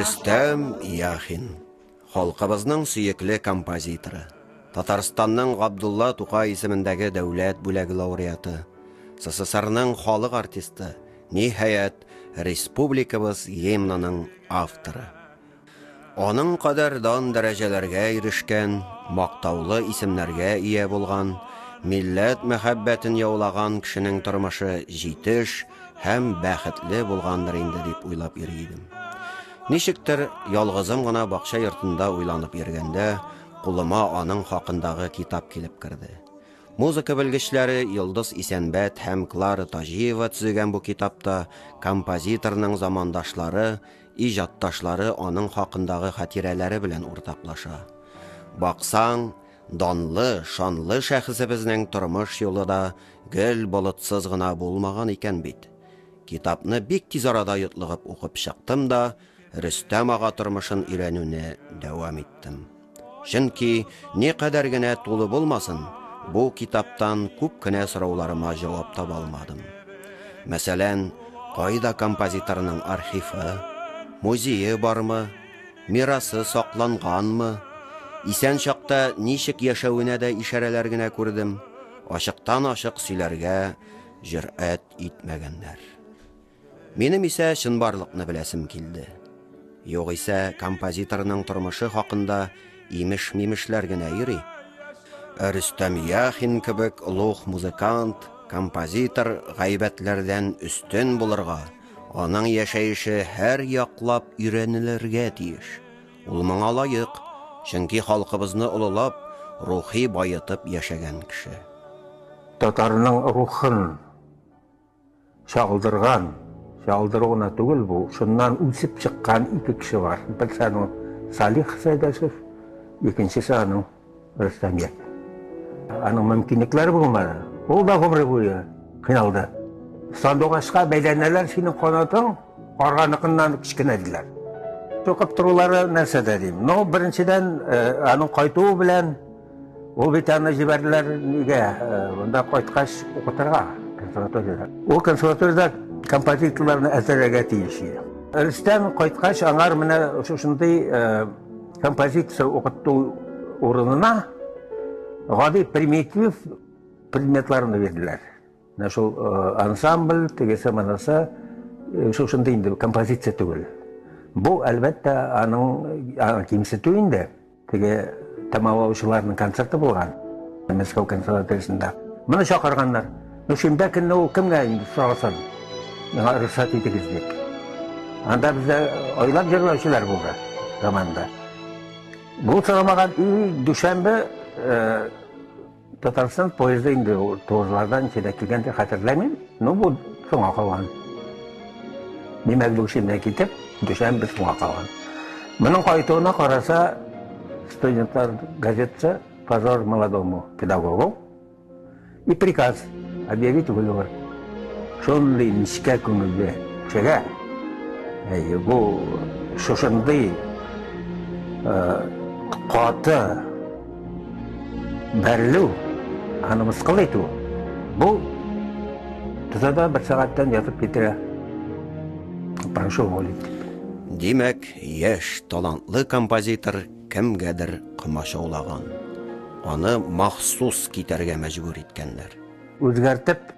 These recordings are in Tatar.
Рөстәм Яхин, халкыбызның сөекле композиторы. Татарстанның Габдулла Тукай исемендәге дәүләт бүләге лауреаты, СССРның халык артисты, ниһаять, республикабыз гимнының авторы. Аның кадәр дан-дәрәҗәләргә ирешкән, мактаулы исемнәргә ия булган, милләт мәхәббәтен яулаган кешенең тормышы җитеш һәм бәхетле булгандыр инде дип уйлап йөри идем. Ничектер, ялгызым гына бакча йортында уйланып йөргәндә, кулыма аның хакындагы китап килеп керде. Музыка белгечләре Йолдыз Исәнбәт һәм Клара Таҗиева төзегән бу китапта композиторның замандашлары, Иҗатташлары аның хакындагы хатирәләре белән уртаклаша. Баксаң, данлы, шанлы шәхесебезнең тормыш юлы да гел болытсыз гына булмаган икән бит. Китапны бик тиз арада йотлыгып укып чыктым да, Рөстәм ага тормышын өйрәнүне дәвам иттем. Чөнки, никадәр генә тулы булмасын, бу китаптан күп кенә сорауларыма җавап таба алмадым. Мәсәлән, кайда композиторның архивы, музее бармы, мирасы сакланганмы? Исән чакта ничек яшәвенә дә ишарәләр генә күрдем, ачыктан-ачык сөйләргә җөрьәт итмәгәннәр. Минем исә чынбарлыкны беләсем килде. Югыйсә, композиторның тормышы хакында имеш-мимешләр генә йөри. Ә Рөстәм Яхин кебек олуг музыкант, композитор гайбәтләрдән өстен булырга, аның яшәеше һәр яклап өйрәнелергә тиеш. Ул моңа лаек, чөнки халкыбызны олылап, рухи баетып яшәгән кеше. Татарның рухын, Чалдырган, чалдыру гына түгел бу, шуннан үсеп чыккан ике кеше бар. Берсе аның Салих Сәйдәшев, икенчесе аның Рөстәмият. Аның мөмкинлекләре булмады. Ул да гомере буе кыйналды. Сандугачка бәйләнәләр синең канатың, арганыкыннан кечкенә диләр. Тукып торулары нәрсәдә дим. Ну, беренчедән, э, аның кайтуы белән Ул бит аны җибәрделәр нигә? Монда кайткач укытырга консерваториядә. Ул консерваториядә композиторларны әзерләргә тиеш иде. Рөстәм кайткач аңар менә шушындый композиция укыту урынына гади примитив предметларны бирделәр. Менә шул ансамбль, тегесе монысы шушындый инде композиция түгел. Бу әлбәттә аның кимсетү инде. Теге тәмамлаучыларның концерты булган Мәскәү консерваториясендә. Моны чакырганнар. Ну шимбә көнне ул кемгә инде сорасын? Миңа рөхсәт итегез дип. Анда бездә айлап җырлаучылар булды заманда. Бу сорамаган и дүшәмбе Татарстан поезды инде ул тозлардан ничәдә килгән дип хәтерләмим. Ну бу соңа калган. Димәк, Бүкшиннән китеп, Дүшәм без соңа калган. Моның кайтуына караса, студентлар газетасы «Позор молодому педагогу» и приказ объявить выговор. Шундый нечкә күңелле кешегә бу шушындый каты Бәрлү, аны мыскыл итү, бу тозада бер сәгатьтән ятып китерә. Прошу уволить. Димәк, яшь талантлы композитор кемгәдер комачаулаган. Аны махсус китәргә мәҗбүр иткәннәр. Үзгәртеп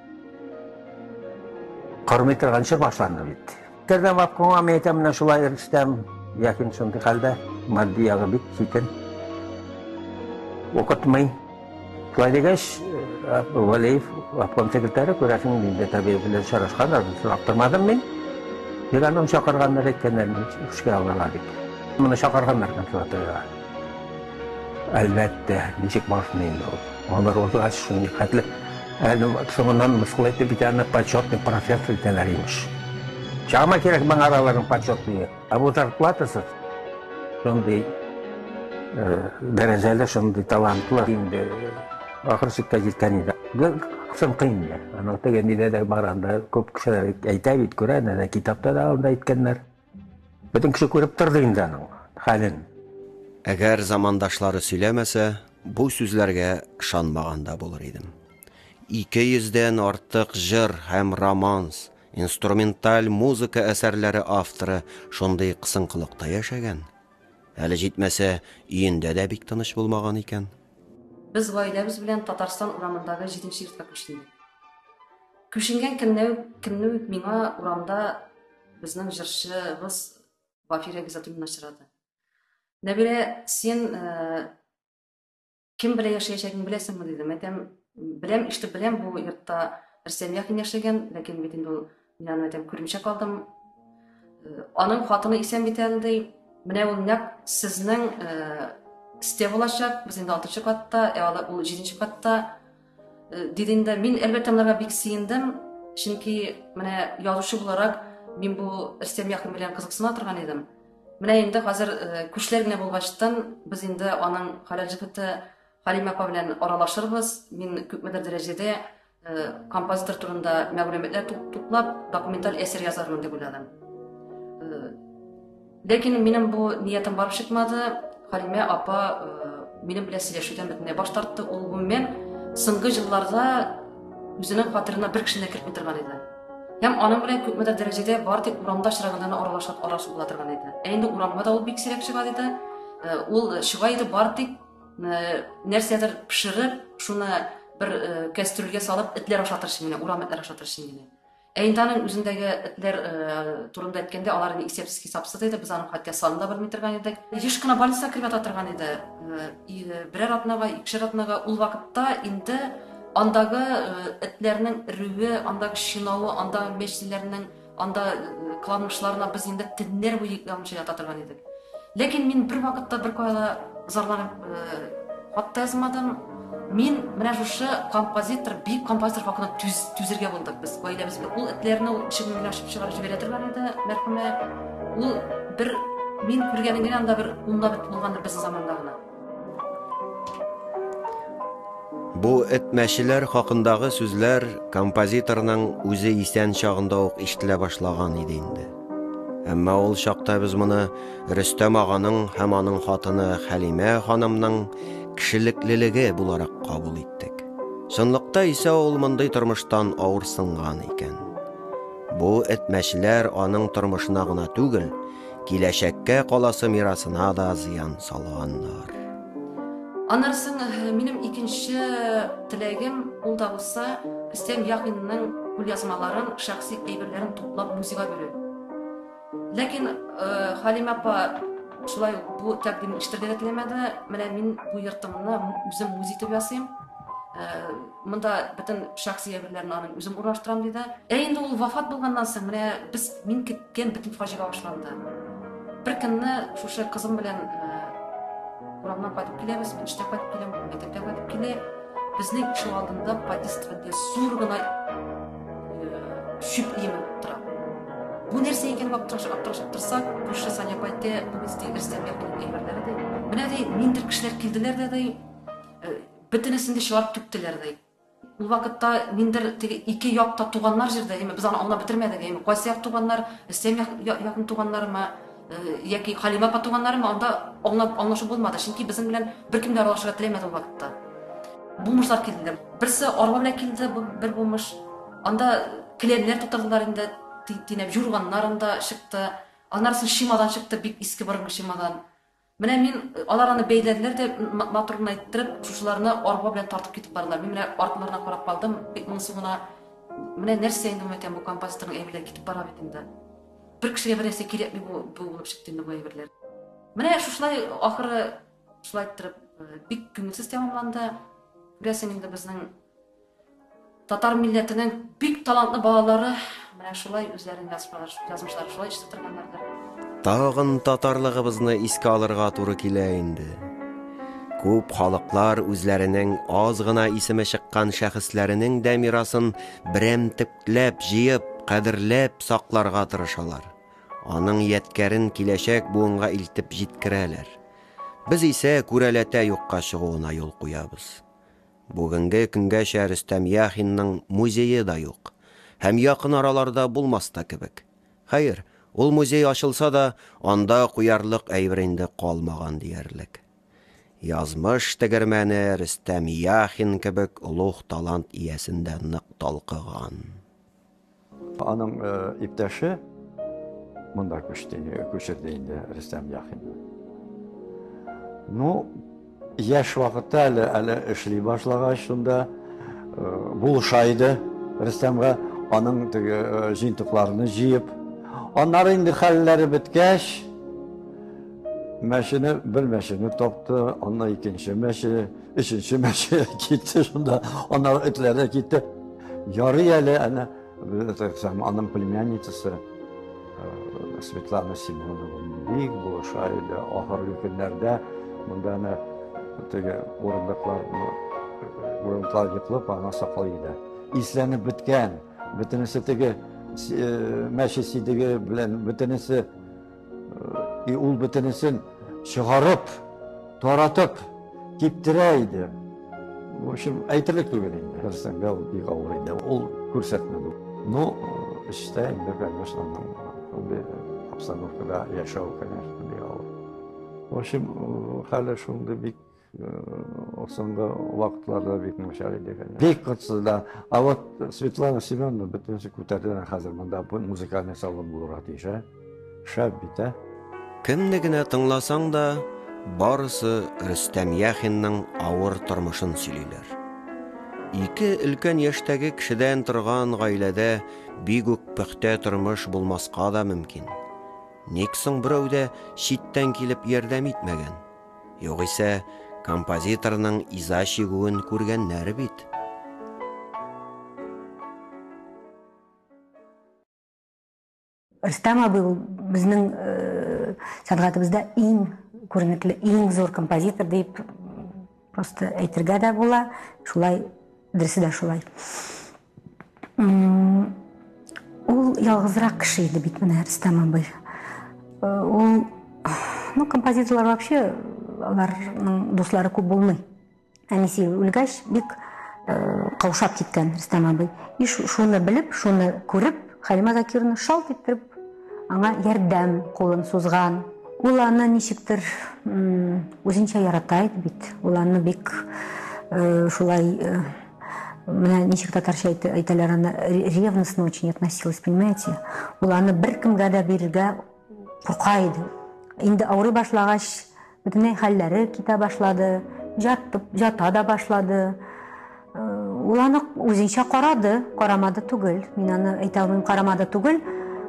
кормый торганчы башланды бит. Тернәбап коңа мәйтә менә шулай ирстәм. Ләкин шундый хәлдә матди ягы бик читен. Укытмый. Шулай дигәч, э, Валеев обком секретаре күрәсең инде табиб белән сорашкан, сорап тормадым мин. Бирәнем чакырганнар әйткәннәр, эшкә алырга дип. Моны чакырганнар консерваториягә. Әлбәттә, ничек барсын инде ул. Алар узгач, шул никәтле. Әле соңыннан мыскыл итеп бит аны почетный профессор итәләр, имеш. Чама кирәк моңа аларның почетные. Ә бу зарплатасыз. Шундый дәрәҗәле, шундый талантлы инде ахыр чиккә җиткән иде. Кысынкы инде. Аның теге нидә дә бар анда күп кешеләр әйтә бит, күрә, әнә китапта да анда әйткәннәр. Бөтен кеше күреп торды инде аның хәлен. Әгәр замандашлары сөйләмәсә, бу сүзләргә ышанмаган да булыр идем. Ике йөздән артык җыр һәм романс, инструменталь музыка әсәрләре авторы шундый кысынкылыкта яшәгән. Әле җитмәсә, өендә дә бик тыныч булмаган икән. Без гаиләбез белән Татарстан урамындагы җиденче йортка күчтек. Күченгән көнне үк миңа урамда Безнең җырчыбыз Бафирә Гизатуллина очрады. Нәбирә, син э, кем белән яшәячәгеңне беләсеңме дидем. Әйтәм, беләм, ишетеп беләм, бу йортта Рөстәм Яхин яшәгән, ләкин бит инде ул мин аны әйтәм, күрмичә калдым. Э, аның хатыны исән бит әле ди. Менә ул нәкъ сезнең э, сте булачак. Без инде 6 катта, ә ул 7 катта. Э, дидемдә мин әлбәттә монарга бик сөендем чөнки менә язучы буларак мин бу рөстәм якын белән кызыксына торган идем менә инде хәзер э, күчләр генә булгачтан без инде аның хәләл җефете халимә апа белән аралашырбыз мин күпмедер дәрәҗәдә э, композитор турында мәгълүматлар туплап документаль әсәр язармын дип уйладым Ләкин минем бу ниятем барып чыкмады. Халимә апа э, минем белән сөйләшүдән бөтенләй баш тартты. Ул гомумән соңгы елларда үзенең фатирына бер кешене кертми торган иде. Һәм аның белән күпме дә дәрәҗәдә бар тик урамда очраганда гына аралашып аралашып була торган иде. Ә инде урамга да ул бик сирәк чыга иде. Э, ул э, чыга иде бар тик э, нәрсәдер пешереп, шуны бер кәстрүлгә салып, этләр ашатырчы генә, урам этләр ашатырчы генә. Ә инде аның үзендәге этләр турында әйткәндә, алар инде исәпсез-хисапсыз иде, без аның хәтта санын да белми торган идек. Еш кына больницага кереп ята торган иде. Берәр атнага, икешәр атнага ул вакытта инде андагы этләрнең өрүе, андагы чинавы, андагы мәчеләрнең анда кыланмышларына без инде төннәр буе йоклый алмыйча ята торган идек. Ләкин мин бер вакытта бер кайда зарланып хат та язмадым. Мин менә шушы композитор, бик композитор хакында түз, түзергә булдык без гаиләбез белән. Ул этләрне ул ишегеннән генә ашып чыгарып җибәрә торган иде, мәрхүмә. Ул бер мин күргәнем генә анда бер унда бит булгандыр безнең заманда гына. Бу этмәчеләр хакындагы сүзләр композиторның үзе исән чагында ук ишетелә башлаган иде инде. Әмма ул чакта без моны Рөстәм аганың һәм аның хатыны Хәлимә ханымның кешелеклелеге буларак кабул иттек. Чынлыкта исә ул мондый тормыштан авырсынган икән. Бу этмәчеләр аның тормышына гына түгел, киләчәккә каласы мирасына да зыян салганнар. Аннары соң минем икенче теләгем, ул да булса, Рөстәм Яхинның кулъязмаларын, шәхси әйберләрен туплап музейга бирү. Ләкин Халимә апа шулай ук бу тәкъдимне ишетергә дә теләмәде. Менә мин бу йортымны үзем музей итеп ясыйм. Монда бөтен шәхси әйберләрне аның үзем урнаштырам диде. Ә инде ул вафат булганнан соң менә без мин көткән бөтен фаҗига башланды. Бер көнне шушы кызым белән урамнан кайтып киләбез, мин эштә кайтып киләм, мәктәптә кайтып килә. Безнең ишек алдында подъездда зур гына шүп иеме тора. Бу нәрсә икән дип аптыраш аптыраш аптырса, күрше Саня пайте бу бездә ирсәгә килгән әйберләре дә. Менә дә ниндер кешеләр килделәр дә дә Бөтенесен дә чылап түктеләр, ди. Ул вакытта миндер теге ике як та туганнар җирдә, яме без аны аңлап бетермәдек, яме кайсы як туганнар, Рөстәм як, я, якын туганнарымы, яки Хәлимә апа туганнарымы, анда аңлап, аңлашу булмады, чөнки безнең белән беркем дә аралашырга теләмәде ул вакытта. Бумышлар килде. Берсе арба белән килде, бу бер бумыш. Анда келәмнәр тутырдылар инде, ти, тинәп, җурганнар анда чыкты. Аннары соң чемодан чыкты, бик иске борынгы чемодан. Менә мин, алар аны бәйләделәр дә, матур гына иттереп, шушыларны арба белән тартып китеп бардылар. Мин менә артларына карап калдым, бик моңсу гына. Менә нәрсә инде икән бу композиторның әйберләре китеп бара бит инде. Бер кешегә бер нәрсә кирәкми бу булып чыкты инде бу әйберләр. Менә шушылай ахыры шулай иттереп бик күңелсез тәмамланды. Күрәсең инде безнең Татар милләтенең бик талантлы балалары менә шулай үзләрен язмышлары шулай ишетеп торганнардыр. Тагын татарлыгыбызны искә алырга туры килә инде. Күп халыклар үзләренең аз гына исеме чыккан шәхесләренең дә мирасын берәмтекләп җыеп, кадерләп сакларга тырышалар. Аның яткәрен киләчәк буынга илтеп җиткерәләр. Без исә күрәләтә юкка чыгуына юл куябыз. Бүгенге көнгәчә Рөстәм Яхинның музее да юк һәм якын араларда булмас та кебек. Хәер, ул музей ачылса да, анда куярлык әйбер инде калмаган диярлек. Язмыш тегермәне Рөстәм Яхин кебек олуг талант иясен дә нык талкыган. Аның э, иптәше монда күчте, күчерде инде Рөстәм Яхинны. Ну, яшь вакытта әле әле эшли башлагач шунда э, булыша иде Рөстәмгә аның теге э, җыентыкларны җыеп. Аннары инде хәлләре беткәч, мәшине бер мәшине тапты, аннан икенче мәшине Өченче мәче китте шунда, аннары этләр дә китте. Ярый әле әнә аның племянницасы э, Светлана Семенова бик булыша иде. Ахыргы көннәрдә монда әнә теге урындыклар урындыклар йоклап аңа саклый иде. Исләнеп беткән, бөтенесе теге э, мәче сидеге белән бөтенесе И ул бөтенесен чыгарып, таратып, киптерә иде. В общем, әйтерлек түгел инде. Берсәнгә ул бик авыр иде. Ул күрсәтмәде. Ну, эштә инде, конечно, шундый обстановкада яшәү, конечно, бик авыр. В общем, хәле шундый бик Э, соңгы вакытларда бик начар иде бик котсыз да а вот светлана семеновна бөтенесе күтәрде хәзер монда музыкальный салон булырга тиеш ә шәп бит ә кемне генә тыңласаң да барысы рөстәм яхинның авыр тормышын сөйлиләр ике өлкән яшьтәге кешедән торган гаиләдә бик үк пөхтә тормыш булмаска да мөмкин ник соң берәү дә читтән килеп ярдәм итмәгән Югыйсә, композиторның иза чигүен күргәннәр бит. Рөстәм абый ул безнең э, сәнгатебездә иң күренекле, иң зур композитор дип просто әйтергә дә була. Шулай, дөресе дә шулай. Ул ялгызрак кеше иде бит менә Рөстәм абый. Ул ну композиторлар вообще аларның дуслары күп булмый. Әнисе үлгәч бик каушап киткән Рөстәм абый. И шуны белеп, шуны күреп, Халимә Закировна шалт иттереп аңа ярдәм кулын сузган. Ул аны ничектер үзенчә ярата иде бит. Ул аны бик шулай Менә ничек татарча әйтәләр аны, ревностно очень относилась, понимаете? Ул аны бер кемгә дә бирергә курка иде. Инде авырый башлагач, бөтенләй хәлләре китә башлады, жатып, жата да башлады. Ул аны үзенчә карады, карамады түгел. Мин аны әйтә алмыйм, карамады түгел,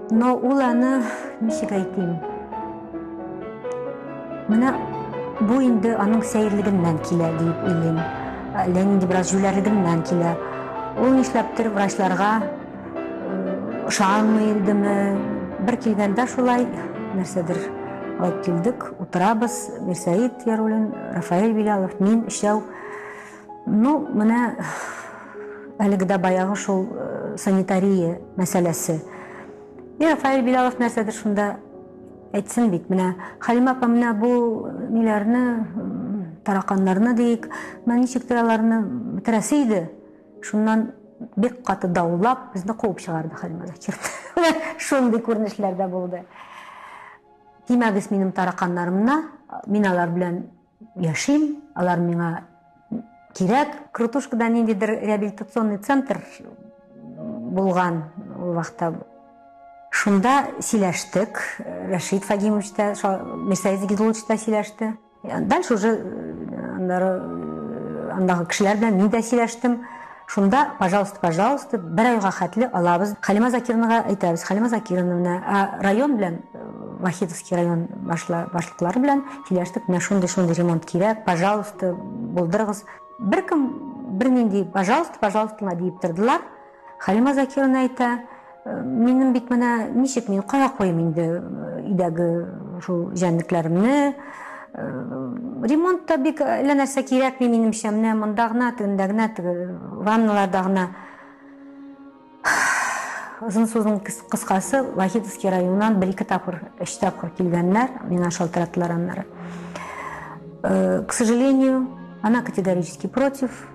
но ул аны ничек әйтим? Менә бу инде аның сәерлегеннән килә диеп уйлыйм. Ә, Ләнинди бераз җүләрлегеннән килә. Ул нишләптер врачларга ышанмый идеме? Бер килгәндә шулай нәрсәдер алып килдек, утырабыз, Мирсәид Ярулин, Рафаэль Билялов, мин өчәү. Ну, менә әлеге дә баягы шул санитария мәсьәләсе. И Рафаэль Билялов нәрсәдер шунда Әйтсен бит, менә Хәлимә апа менә бу ниләрне, тараканнарны диик, менә ничек тә аларны бетерәсе иде. Шуннан бик каты даулап, безне куып чыгарды Хәлимә Закирна. Шундый күренешләр дә булды. Тимәгез минем тараканнарымна, мин алар белән яшим, алар миңа кирәк. Крутушкада ниндидер реабилитационный центр булган ул вакытта. Шунда сөйләштек, Рәшид Фагимович та, Мирсәет Зигидулович та сөйләште. Дальше уже э, э, андагы кешеләр белән мин дә сөйләштем. Шунда, пожалуйста, пожалуйста, бер айга хәтле алабыз. Халима Закирнага әйтәбез, Халима Закирновна, ә район белән, э, Вахидовский район башла, башлыклары белән сөйләштек, менә шундый, шундый ремонт кирәк, пожалуйста, булдырыгыз. Беркем бернинди, пожалуйста, пожалуйста, диеп тордылар. Халима Закировна әйтә, Минем бит менә ничек мин кая куем инде өйдәге шул җәнлекләремне? Ремонт та бик әллә нәрсә кирәкми минемчә. Менә монда гына, тегендә генә, ванналарда гына. Озын сүзнең кыскасы, Вахитовский районыннан бер-ике тапкыр, өч тапкыр килгәннәр, миңа шалтыраттылар аннары. К сожалению, она категорически против.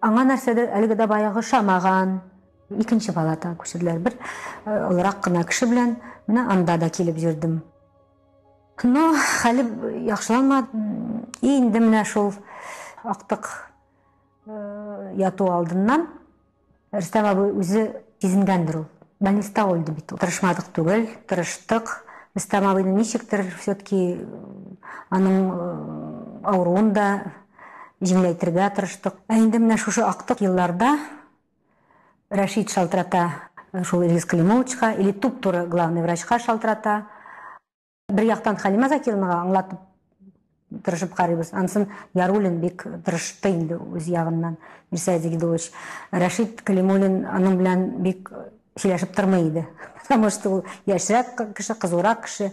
Аңа нәрсәдер әлеге дә баягы шамаган. Икенче палатага күчерделәр. Бер олырак кына кеше белән менә анда да килеп йөрдем. Но хәле яхшыланмады. И инде менә шул актык яту алдыннан Рөстәм абый үзе сизенгәндер ул. Больниста үлде бит ул. Тырышмадык түгел, тырыштык. Рөстәм абыйны ничектер все-таки аның авыруын да җиңеләйтергә тырыштык. Ә инде менә шушы актык елларда Рәшит шалтырата шул Илгиз Климовичка или туп-туры главный врачка шалтырата. Бер яктан Халимә Закированага аңлатып тырышып карыйбыз. Ансын Ярулин бик тырышты инде үз ягыннан. Мирсәй Дигидович, Рәшит Калимуллин аның белән бик сөйләшеп тормый иде. Потому что ул яшьрәк кеше, кызурак кеше.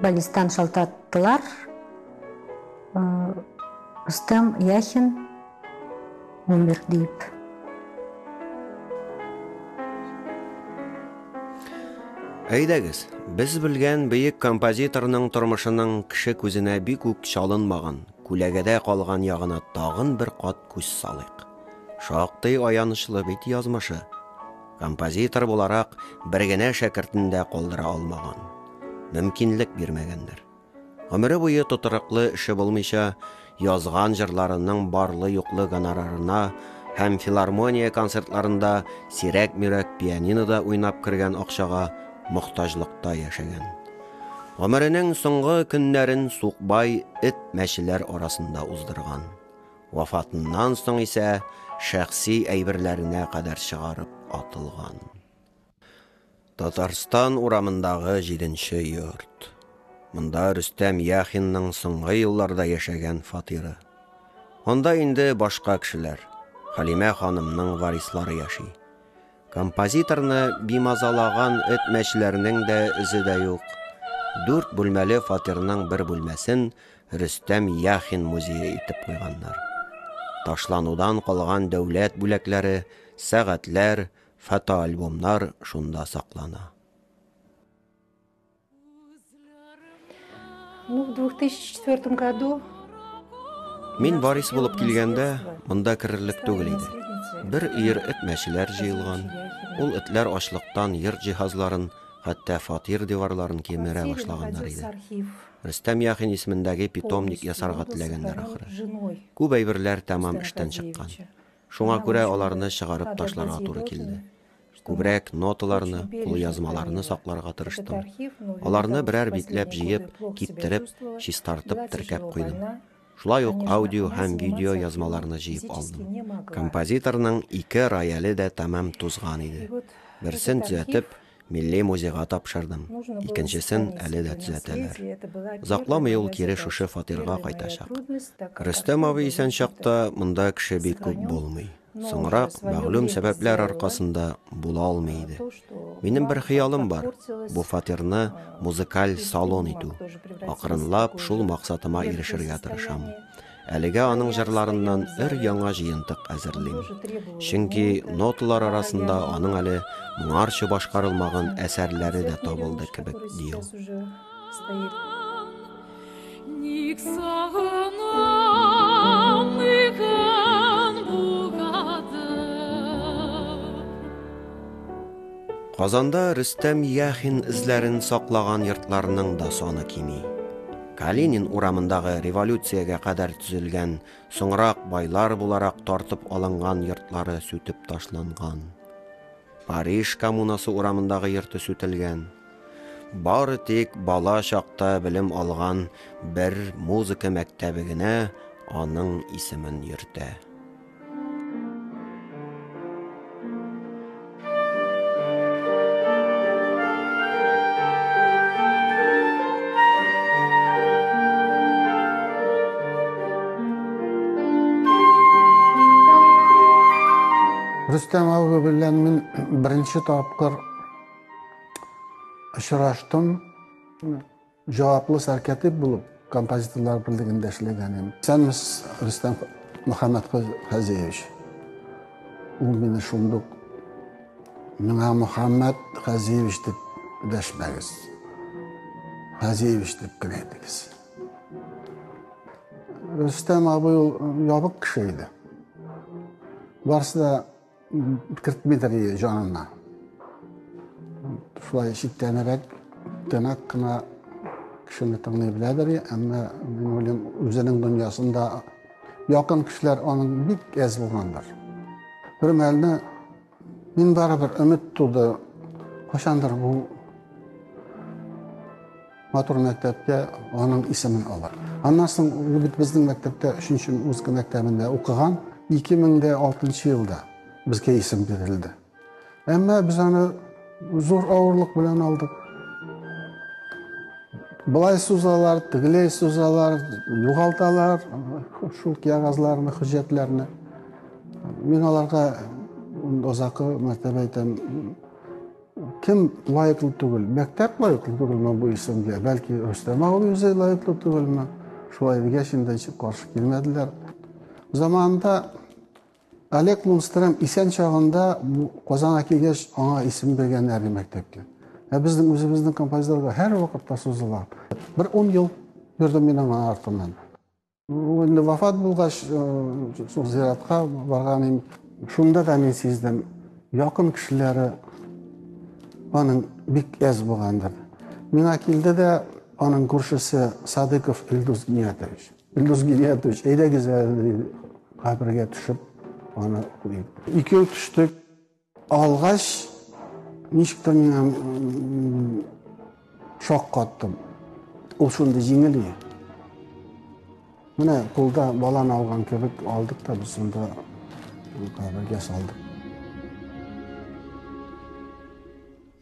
Баллистан шалтаттылар. Рустам Яхин умер дип. Әйдәгез, без белгән бөек композиторның тормышының кеше күзенә бик үк чалынмаган, күләгәдә калган ягына тагын бер кат күз салыйк. Шактый аянычлы бит язмышы. Композитор буларак бер генә шәкертен дә калдыра алмаган. Мөмкинлек бирмәгәннәр. Гомере буе тотырыклы эше булмыйча, язган җырларының барлы-юклы гонорарына һәм филармония концертларында сирәк-мирәк пианинода уйнап кергән акчага мохтаҗлыкта яшәгән. Гомеренең соңгы көннәрен сукбай эт-мәчеләр арасында уздырган. Вафатыннан соң исә шәхси әйберләренә кадәр чыгарып атылган. Татарстан урамындагы җиденче йорт. Монда Рөстәм Яхинның соңгы елларда яшәгән фатиры. Анда инде башка кешеләр, Хәлимә ханымның варислары яши. Композиторны бимазалаган этмәчләрнең дә эзе дә юк. Дүрт бүлмәле фатирның бер бүлмәсен Рөстәм Яхин музее итеп куйганнар. Ташланудан калган дәүләт бүләкләре, сәгатьләр, фотоальбомнар шунда саклана. Ну, в 2004 году Мин Борис булып килгәндә, монда керерлек түгел иде. Бер өер эт мәчеләр җыелган. Ул этләр ачлыктан йорт җиһазларын, хәтта фатир диварларын кимерә башлаганнар иде. Рөстәм Яхин исемендәге питомник ясарга теләгәннәр ахры. Күп әйберләр тәмам эштән чыккан. Шуңа күрә аларны чыгарып ташларга туры килде. Күбрәк ноталарны, кулъязмаларны сакларга тырыштым. Аларны берәр битләп җыеп, киптереп, чистартып, теркәп куйдым. Шулай ук аудио һәм видео язмаларны җыеп алдым. Композиторның ике рояле дә тәмам тузган иде. Берсен төзәтеп, Милли музейга тапшырдым, икенчесен әле дә төзәтәләр. Озакламый ул кире шушы фатирга кайтачак. Рөстәм абый исән чакта монда кеше бик күп булмый. Соңрак мәгълүм сәбәпләр аркасында була алмый иде. Минем бер хыялым бар. Бу фатирны музыкаль салон итү. Акрынлап шул максатыма ирешергә тырышам. Әлегә аның җырларыннан өр яңа җыентык әзерлим. Чөнки ноталар арасында аның әле моңарчы башкарылмаган әсәрләре дә табылды кебек, ди ул. Казанда Рөстәм Яхин эзләрен саклаган йортларның да саны кими. Калинин урамындагы революциягә кадәр төзелгән, соңрак байлар буларак тартып алынган йортлары сүтеп ташланган. Париж коммунасы урамындагы йорты сүтелгән. Бары тик бала чакта белем алган бер музыка мәктәбе генә аның исемен йөртә. Рөстәм абый белән мин беренче тапкыр очраштым. Җаваплы сәркәтип булып композиторлар берлегендә эшләгән идем. Сәнмес Рөстәм Мөхәммәд Хәзиевич. Ул мине шундук миңа Мөхәммәд Хәзиевич дип дәшмәгез. Хәзиевич дип кенә әйтегез. Рөстәм абый ул ябык кеше иде. Барсы да кертмидер иде җанына. Шулай читтәнерәк, тәнәк кына кешене тыңлый беләдер, әмма мин уйлыйм, үзенең дөньясында якын кешеләр аның бик әз булгандыр. Бер мәлне Мин барыбер өмет туды. Кайчандыр бу матур мәктәптә аның исемен алыр. Аннан соң ул бит безнең мәктәптә 3-нче музыка мәктәбендә укыган. 2006 елда безгә исем бирелде. Әмма без аны зур авырлык белән алдык. Былай сузалар, тегеләй сузалар, югалталар шул кәгазьләрне, хөҗәтләрне. Мин аларга озакы мәртәбә әйтәм, кем лаеклы түгел? Мәктәп лаеклы түгелме бу исемгә? Бәлки Рөстәм абый үзе лаеклы түгелме? Шулай дигәч инде каршы килмәделәр. Заманында Олег Мунстрем исән чагында Казанга килгәч аңа исем биргән әле мәктәпкә. Ә безнең үзебезнең композиторга һәр вакытта сузыла. Бер 10 ел йөрдем мин аңа артыннан. Инде вафат булгач, шул зиратка барганым, шунда да мин сиздем, якын кешеләре аның бик әз булгандыр. Миңа килде дә аның күршесе Садыков Илдус Гиниятович. Илдус Гиниятович, әйдәгез әле кабергә төшеп, аны куеп. Икәү төштек. Алгач, ничектер миңа шок каттым. Ул шундый җиңел иде. Менә кулда баланы алган кебек алдык та без шунда кабергә салдык.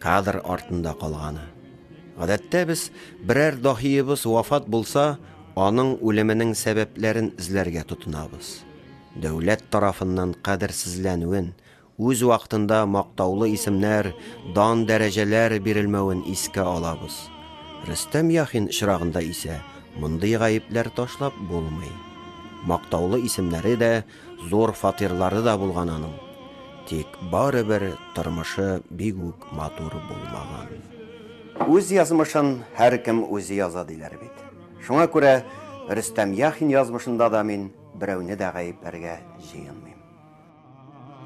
Кадр артында калганы. Гадәттә без, берәр даһиебыз вафат булса, аның үлеменең сәбәпләрен эзләргә тотынабыз. Дәүләт тарафыннан кадерсезләнүен, үз вакытында мактаулы исемнәр, дан-дәрәҗәләр бирелмәвен искә алабыз. Рөстәм Яхин очрагында исә мондый гаепләр ташлап булмый. Мактаулы исемнәре дә, Зур фатирлары да булган аның. Тик барыбер тормышы бик үк матур булмаган. Үз язмышын һәркем үзе яза диләр бит. Шуңа күрә Рөстәм Яхин язмышында да мин берәүне дә гаепләргә җыенмыйм.